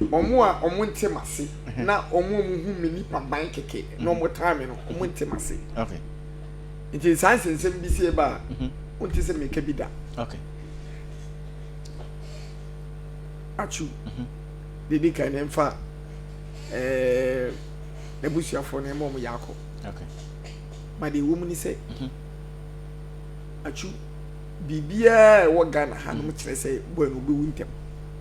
Wɔn a wɔnte m'ase na wɔn a wɔhu me nipaban kɛkɛ na wɔtaa me no, wɔnte m'ase. Nti saa nsɛnsɛm bi sie ba a, wonte sɛ meka bi da. Atsu, deɛ di kan no mfa n'abusuafoɔ no ma wɔn yɛ akɔ. Ma deɛ ɛwɔ mu ne sɛ, Atsu, biribiara a ɛwɔ Ghana hanom kyerɛ sɛ Boy no ɔbɛwu ntɛm.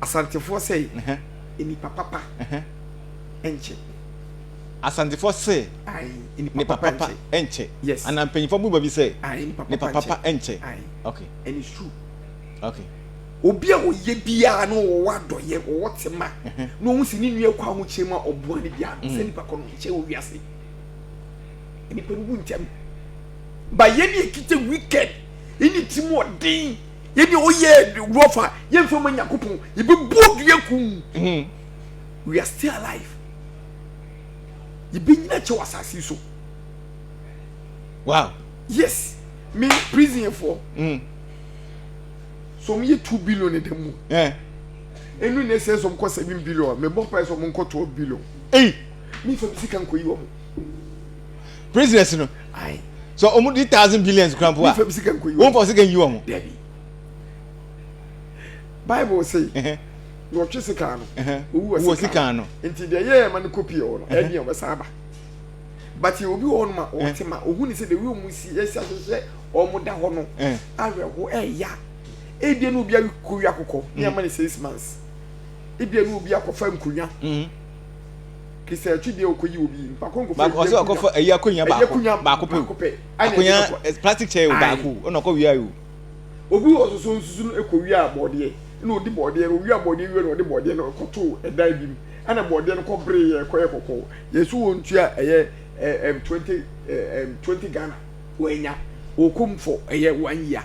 Asantefoɔ se, Nnipa papa nnkye. Asantefoɔ se, Nnipa papa nnkye. Anaa mpanyinfoɔ bɔ bi se, Nnipa papa nnkye. And it's true. Okay. Obi a ɔyɛ biara na ɔwɔ adɔyɛ, ɔwɔ tema, na ɔhu se ne nua kɔ ahokyere mu a ɔboa no biara no, saa nipa kɔ no nkyɛn wɔ wiase. Nnipa no wu ntɛm. Ba yɛn deɛ kita wicked, ɛne timu ɔden. Yɛdeɛ ɔyɛ rough a yɛmfa ma Nyankopɔn yɛbɛbuo dua kum hmm. we are still alive yɛbɛnyina kyɛw asase so wow yes me prison for mm. so me two billion in the moon yeah and when they say some cost seven billion me bought price of uncle twelve billion hey me for the second coin prisoners no sɛ ɔmo di thousand billions kura mpo a wɔn fa sika nyi wɔn. bible se na ɔtwe sika no owuwɔ sika no nti deɛ yɛ ɛma no kopi ɔ no ɛdeɛ ɔbɛsan aba but yɛ obi wɔ hɔ nom a ɔte ma ɔhu ne sɛ the way ɔmo si ɛsi ahyehyɛ ɔmo da hɔ no awerɛho ɛya ebia na obi akɔwi akokɔ ne ama ne six months ebia na obi akɔfa nkonnwa baako ɔsɛ ɔkɔfa ayi akonnwa baako baako pɛ o akonnwa plastic chair o baako ɛna ɔkɔ wia yi o. obi wɔ soso nsusu no ekɔ wia abɔdeɛ ɛna odi bɔdeɛ no wia abɔdeɛ wia na ɔde bɔdeɛ no kɔ to ɛdan bi mu ɛna bɔdeɛ no kɔ bere yɛ kɔ yɛ kɔkɔɔ yɛn so wɔn tua ɛyɛ ɛɛm twenty ɛɛm twenty Ghana wɔn anya wɔn kɔm fɔ ɛyɛ one year.